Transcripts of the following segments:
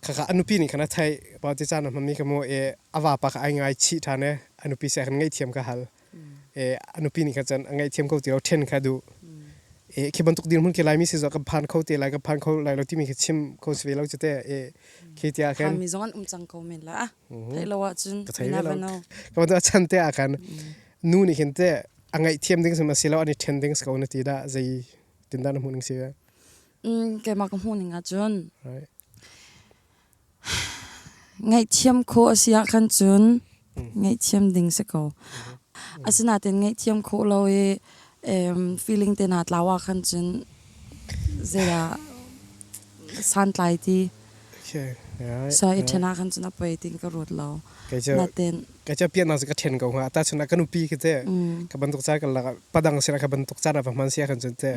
khakha anupi nih khan a theih pauti caan a hmami ka maw e a vapa ka ai ngai chih ṭhan e anupi se khan ngaihthiam ka hal e anupi nih khan cun a ngaihthiam ko ti lo ṭhen kha duh e khi bantuk dirhmun ke laimi si zo ka phan kho te lai ka phan kho lai lo timi khi chim ko si ve lo cute e khi ti ah khan kami zong an um cang ko men la theih lo ah cun ka thei ve lo ka bantu a chan te ah khan nu nih hin te a ngaihthiam ding sim a si lo an i ṭhen ding ko na ti da zei tin da na hmuh ning si keimah ka hmuh ning ahcun ngaihthiam khawh a si ahkhan cun ngaihthiam ding si ko. Asinain ngaihthiam khawh lo i feeling te naa tlau ahkhan cun zeidah santlai ti. So i ṭhen ahkhan cun a poi ti ka ruat lo. Nain Keica piahnak cu ka ṭhen ko hnga. Tahchun ah ka nupi khi teh ka bantuk ca ka lak ah padang sin ah ka bantuk caan ah va hman si ahkhan cun teh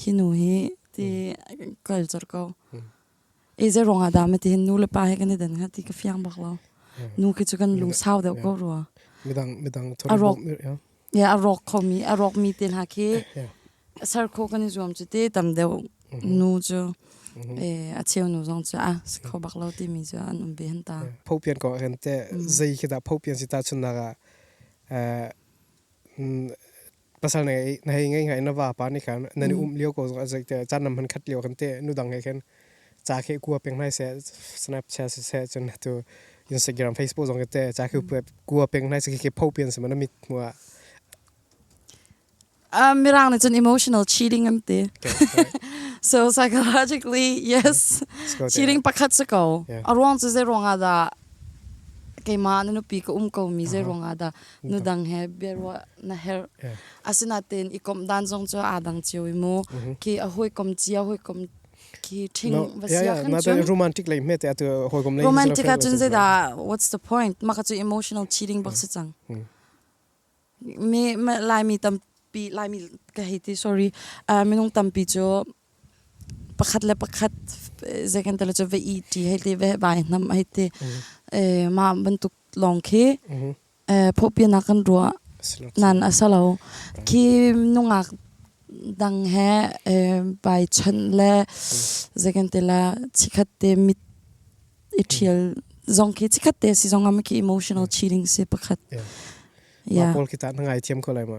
hi nu hi ti culture ko ei ze rong ah dah ma ti hin nu le pa he kan i den ha ti ka fiang bak lo nu khi chu kan lung sau deuh ko rua midang midang arok ya arok khomi arok mi ten ha khi sar kho kan i zuam chu te tam deuh nu chu eh a cheu nu zong chu a kho bak lo ti mi chu an um ve han ta phopian ko hen te zei khi da phopian si ta chun na ga pasal na ngei na hei ngei ngai na va pa ni khan na ni um lio ko zong azai te chan nam han khat lio kan te nu dang he khan cha khe ku peng nai se snapchat se chun tu instagram facebook zong te cha khe ku peng nai se ke pho pian se mana mit hua um mirang ni chun emotional cheating am te so psychologically yes cheating pakhat se ko arwang chu ze ronga da keima nu pi ko um ko mi ze ronga da nudang he biaruah na herh asinatein i komh dan zong cu aa dang cio i mu ki a hoi kom cia hoi kom ki thing va sia kan na da romantic lei me te atu hoi kom lei romantic a chun zeda what's the point maka chu emotional cheating bak se chang me lai mi tam pi lai mi ka hei ti sorry minung tam pi chu Pakhat le pakhat zei kan tilo cu va ih ṭi hei te, va vai hnam hei te. mah bantuk lawng khi phawhpinak kan ruah nan a si lo. Khi nungak dang he vai chawnh le zei kan tila chikhat te mit i ṭhial zong khi chikhat te si zong ah khi emotional cheating si pakhat. Mah pawl khi tah na ngaithiam ko lai ma?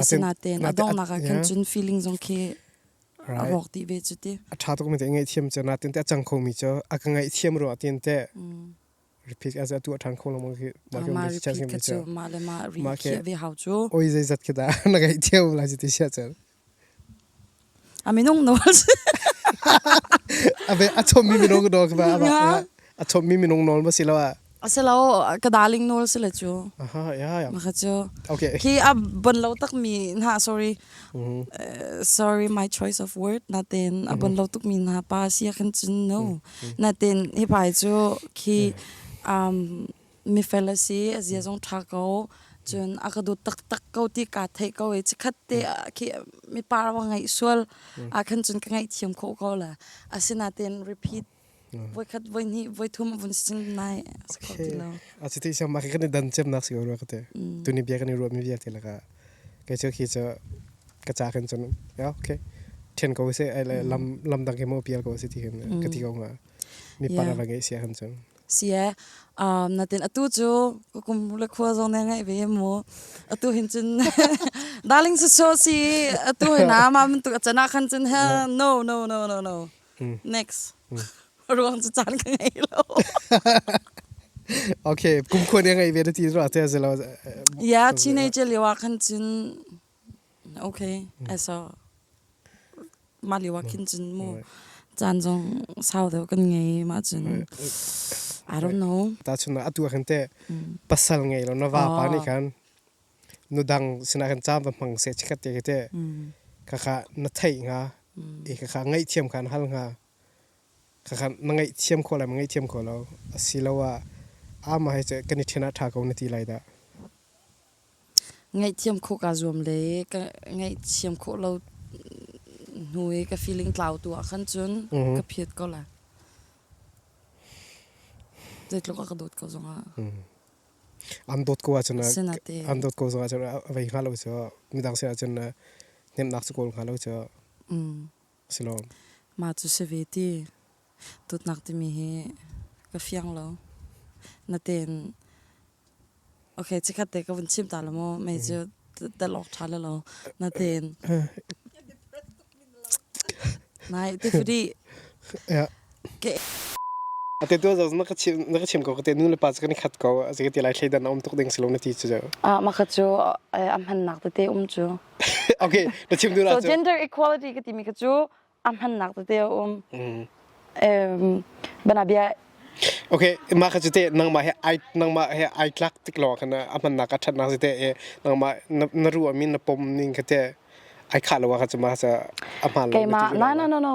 asinaten a donghnak ah khin cun feeling zong khi a rawk ti ve cu ti a tha tuk mi te ngai thiam chu na tin te chang kho mi chu a ka ngai thiam ro tin te repeat as atu a than kho lo mo ki ma ke ma repeat ka chu ma le ma re ve hau chu oi zai zat ke da na gai thiam la ji ti sia chal A minung nawl si. A chommi minung nawl ka rak a chommi minung nawl ma si lo ah. A si lo ka darling nawl si le cu. Aha ya ya. Ma cu. Okay. Hi a bon lo takmi na sorry. Sorry my choice of word natin a bon lo tukmi na pa si kan cun no. Natin hi pai cu khi um mifel a si a zia zong ṭha ko. Cun a ka dawt taktak ko ti kaa theih ko i chikkhat te ah khi mipa ram ka ngeih sual ahkhan cun ka ngaihthiam khawh ko la. Asinain repeat voikhat voihnih voithum a vun si cun nai a si kho ti lo. A cuti siam mah kan i dan ciamnak si ko rua ka te. Tuni bia kan i ruahmi vialte lakah kei cu khi cu ka ca khan cun okay ṭhen ko seh ai le lam lam dang khi maw pial ko seh ti khin ka ti ko hnga. Mipa ram ka ngeih si ahkhan cun. Si e. Um, natin atu cu kum le khua zong ne ngai ve mu. Atu hin cun darling su so si atu hin na ma mun tu achana khan cun ha no no no no no. Next. Ruang cu caan ka ngei lo. Okay, kum khua ne ngai ve na ti zuwa te se lo. Ia teenager liwa khan cun Okay eso mah lio ah khin cun mu caan zong sau deuh kan ngei mah cun I don't know tahchun ah atu ah khan teh pasal ngei lo na va pa nih khan nu dang sinah khan cam va hmang se chikat te te khakha na thei nga e khakha ngaih thiam khan hal nga khakha na ngaih thiam kho lai ma ngaih thiam kho lo asilo ah ama hai che kan i thena tha ko na ti lai da Ngaihthiam khawh kaa zuam le ka ngaihthiam khawh lo hnu i ka feeling tlau tu ahkhan cun ka phiat ko la. Zeitluk a ka dawt ko zongah. An dawt ko ahcun an dawt ko zongah cun a vei hnga lo cu midang sin ahcun na hnemhnak cu kawl hnga lo cu. Si lo. Mah cu si ve ti. Dawtnak timi hi ka fiang lo. Natein okay chikhat te ka vun chim ta lo maw mei cu talawk tha lo lo. Natein Nai ti fri. Yeah. ate tu zo na ka chim na ka chim ko te nu le pa kan khat ko a se ti lai thlai dan om tuk ding silong na ti chu ah ma kha chu am han nak te te um chu okay na chim du la so gender equality ka ti mi ka chu am han nak te um em bana bia okay ma kha chu te nang ma he ai nang ma he ai tlak tik lo khana am han nak ka that na te e nang ma na ru amin na pom ning ka te ai khah lo ah kha cu ma a hmaan lo. Keimah na na na no.